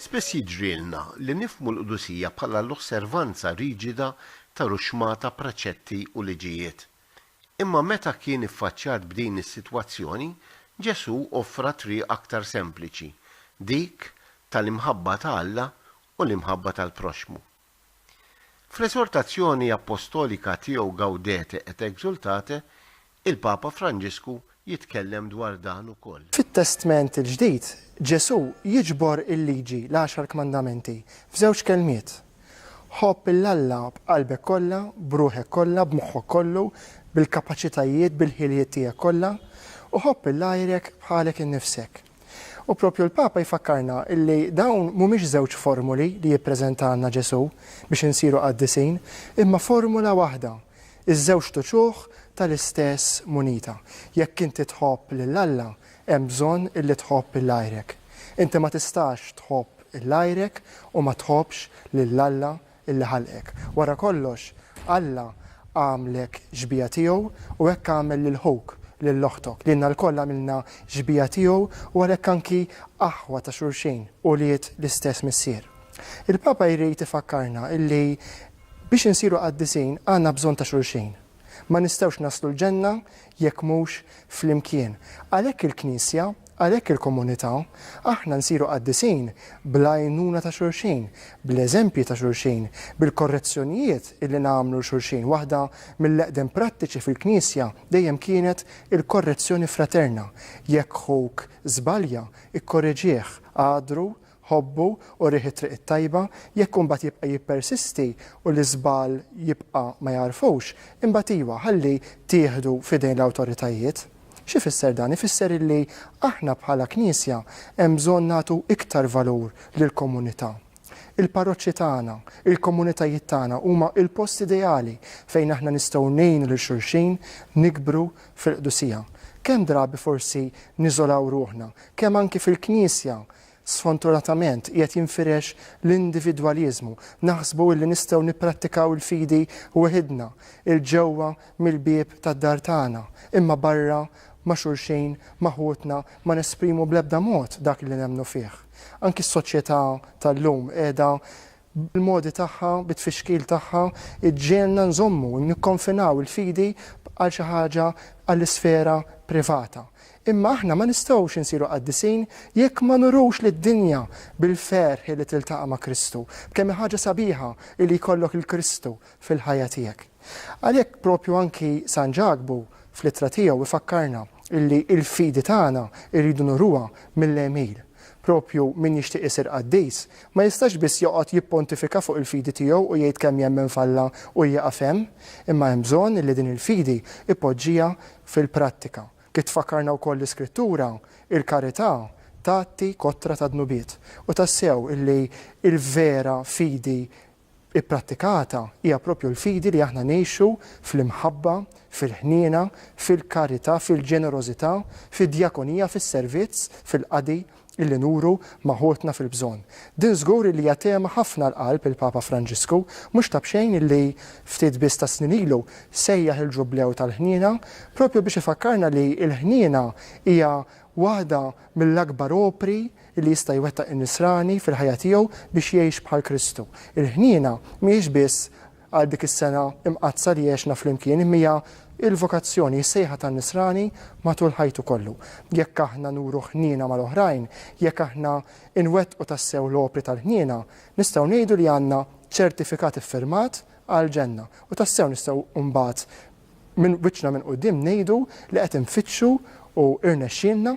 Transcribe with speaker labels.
Speaker 1: Spiss jiġrilna li nifhmu l-qdusija bħala l-osservanza riġida ta' ruxxmata preċetti u liġijiet. Imma meta kien iffaċċjat b'din is-sitwazzjoni, Ġesù offra triq aktar sempliċi, dik tal-imħabba ta' Alla u l-imħabba tal-proxxmu. Fl-esortazzjoni appostolika tiegħu Gaudete et exultate, il-Papa Franġisku jitkellem dwar dan ukoll. Fit-Testment il-Ġdid,
Speaker 2: Ġesù jiġbor il-Liġi, l-Għaxar Kmandamenti, f'żewġ kelmiet, Ħobb 'il Alla b'qalbek kollha, b'ruħek kollha, b'moħħok kollu, bil-kapaċitajiet, bil-ħiliet tiegħek kollha, u ħobb 'il għajrek bħalek innifsek. U proprju l-Papa jfakkarna illi dawn mhumiex żewġ formuli li jippreżentalna Ġesù biex insiru qaddisin, imma formula waħda, iż-żewġt uċuħ tal-istess munita. Jekk inti tħobb lil Alla, hemm bżonn illi tħobb lil għajrek. Inti ma tistax tħobb lil għajrek u ma tħobbx lil Alla li ħalqek. Wara kollox, Alla għamlek xbieha tiegħu u hekk għamel lil ħuk, lil oħtok. Lilna lkoll għamilna xbieha tiegħu u għalhekk anki aħwa ta' xulxin, ulied l-istess Missier. Il-Papa jrid ifakkarna li biex insiru qaddisin għandna bżonn ta' xulxin. Ma nistgħux naslu l-ġenna jekk mhux flimkien. Għalhekk il-Knisja, għalhekk il-komunità, aħna nsiru qaddisin bl-għajnuna ta' xulxin, bl-eżempji ta' xulxin, bil-korrezzjonijiet illi nagħmlu 'l xulxin. Waħda mill-eqdem prattiċi fil-Knisja dejjem kienet il-korrezzjoni fraterna. Jekk ħuk żbalja, ikkoreġih, agħdru ħobbu u riħ it-triq it-tajba, jekk imbagħad jibqa' jippersisti u l-iżball jibqa' ma jagħrfux, imbagħad iwa, ħalli tieħdu f'idejn l-awtoritajiet. X'ifisser dan? Ifisser illi aħna bħala Knisja hemm bżonn nagħtu iktar valur lill-komunità. Il-parroċċi tagħna, il-komunitajiet tagħna huma l-post ideali fejn aħna nistgħu ngħinu lil xulxin nikbru fil-qdusija. Kemm drabi forsi niżolaw ruħna, kemm anki fil-Knisja Sfonturatament, qiegħed jinfirex l-individwaliżmu, naħsbu illi nistgħu nipprattikaw il-fidi weħidna, 'il ġewwa mill-bieb tad-dar tagħna, imma barra ma' xulxin, ma' ħutna, ma nesprimu bl-ebda mod dak li nemmnu fih. Anki s-soċjetà tal-lum qiegħda bil-modi tagħha, bit-tfixkil tagħha, iġġegħelna nżommu, nikkonfinaw il-fidi għal xi ħaġa għall-isfera privata. Imma aħna ma nistgħux insiru qaddisin jekk ma nurux lid-dinja bil-ferħ li tiltaqa' ma' Kristu, b'kemm hi ħaġa sabiħa li jkollok 'l Kristu fil-ħajja tiegħek. Għalhekk proprju anki San Ġakbu fl-ittra tiegħu jfakkarna illi l-fidi tagħna rridu nuruha mill-għemil. Proprju min jixtieq isir qaddis ma jistax biss joqgħod jippontifika fuq il-fidi tiegħu u jgħid kemm jemmen f'Alla u jieqaf hemm, imma hemm bżonn illi din il-fidi jpoġġiha fil-prattika. Kif tfakkarna wkoll l-Iskrittura, il-karità tgħatti kotra tad-dnubiet. U tassew illi l-vera fidi ipprattikata hija proprju l-fidi li aħna ngħixu fl-imħabba, fil-ħniena, fil-karità, fil-ġenerożità, fid-djakonija, fis-servizz, fil-qadi li nuru ma' ħutna fil-bżonn. Din żgur illi hija tema ħafna għal qalb il-Papa Franġisku, mhux ta' b'xejn illi ftit biss tas-snin ilu sejjaħ il-Ġublew tal-Ħniena proprju biex ifakkarna li l-ħniena hija waħda mill-akbar opri li jista' jwettaq in-nisrani fil-ħajja tiegħu biex jgħix bħal Kristu. Il-ħniena mhijiex biss għal dik is-sena mqaddsa li għexna flimkien imma hija l-vokazzjoni, is-sejħa tan-nisrani matul ħajtu kollu. Jekk aħna nuru ħniena mal-oħrajn, jekk aħna nwettqu tassew l-opri tal-ħniena, nistgħu ngħidu li għandna ċertifikat iffirmat għall-ġenna u tassew nistgħu mbagħad minn wiċċna minn quddiem ngħidu li qed infittxu u rnexxielna